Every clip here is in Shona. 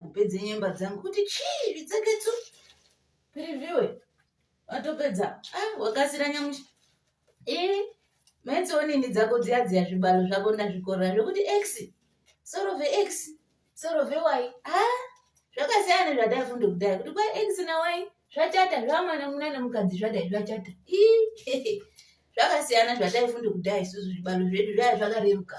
kupedza nyemba dzangu kuti chii zvitsegedzu piriviwe watopedza ah, wakasira nyamushi ee eh, metsionini dzako dziya dziya zvibalo zvako ndazvikorera zvekuti x soro vex soro vey a ah, zvakasiyana nezvataifunda kudhaya kuti kwa x na y zvachata zvamwana muna nemukadzi zvadai zvachata ii zvakasiyana zvataifunda kudhaya isusu zvibalo zvedu zvaya zvakareruka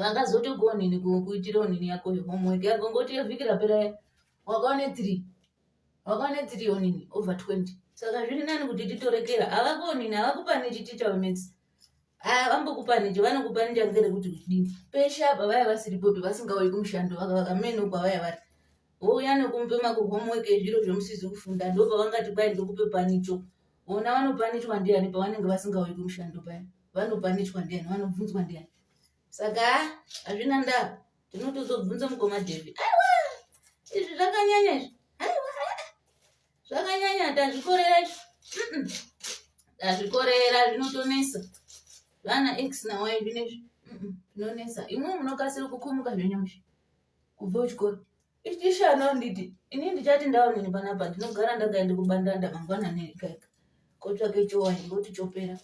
vakazotogonini kuitira onini yako homework yako ngoti yevhiki rapera wakaone three wakaone three onini over twenty saka zviri nani kuti titorekera havakonini havakupani chiticha wemets vambokupanije vanokupanija ngere kuti kudini peshe apa vaya vasiripopi vasingauyi kumushando vakavaka mene uko vaya vari vouya nekumupe makuhomework ezviro zvemusizi kufunda ndopavangati kwai ndokupe panicho vona vanopanichwa ndiani pavanenge vasingauyi kumushando paya vanopanichwa ndiani vanobvunzwa ndiani saka hazvina ndaa tinoti uzobvunza mukoma devi aiwa izvi zvakanyanya izvi aiwa zvakanyanya tazvikorera izvi tazvikorera zvinotonesa vana x nawayi zvinezvi zvinonesa imwe munokasira kukumuka zvenyamushi kubva kuchikoro ichishana nditi ini ndichati ndaonini panapa ndinogara ndagaenda kubandanda mangwanani ikaika kotsvake chowaini ngoti chopera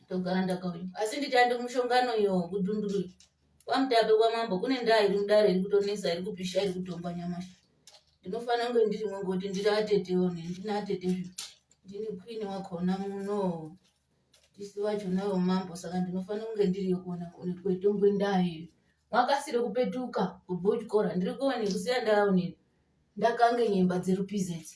togara ndakauya asi ndichande kumushongano iyo kudunduru kwamutape kwamambo kune ndaa iri mudare iri kutonesa iri kupisha iri kutomba nyamashi ndinofanira kunge ndirimwe ngoti ndiri atete one ndine atete zvi ndini queen wakona muno tisi vacho navo mambo saka ndinofanira kunge ndiriyo kuona kwetongwe ndaa iyo makasire kupetuka kubhuchikora ndiri kuone kusiya ndaonini ndakange nyemba dzerupizeti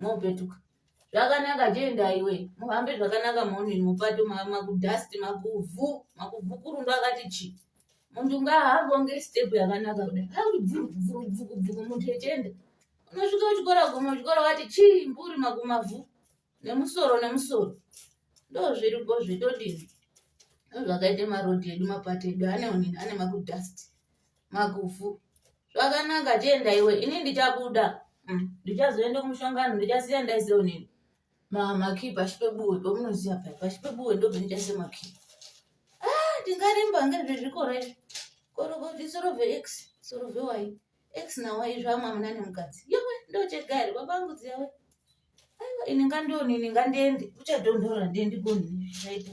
mopetuka zvakanaka jenda iwe muhambe zvakanaka morning mupato makudust makuvhu makuvhukurundo akati chi muntu ngaahambe onge step yakanaka kudai auribvurubvukubvuku muntu echenda unosvika kuchikora guma chikora wati chii mburi makumavhu nemusoro nemusoro ndo zviripo zvetodini ndo zvakaita marodhi edu mapato edu ane onini ane makudust Magufu. Zvakanaka chienda iwe ini ndichabuda. Mm, ndichazoenda kumushongano ndichasiya ndaise unini. Mama key pashi pebuwe pamunoziva paya pashi pebuwe ndobva ndichaise makey. Ah tingarimba ngezvezvikoro izvi. Korokoti soro ve x soro ve y x na y zvamwamuna nemukadzi. Yowe ndochega here baba angu dziyawe. Aiwa ini ngandione ini ngandiende kuchadondora ndiende koni zvichaita.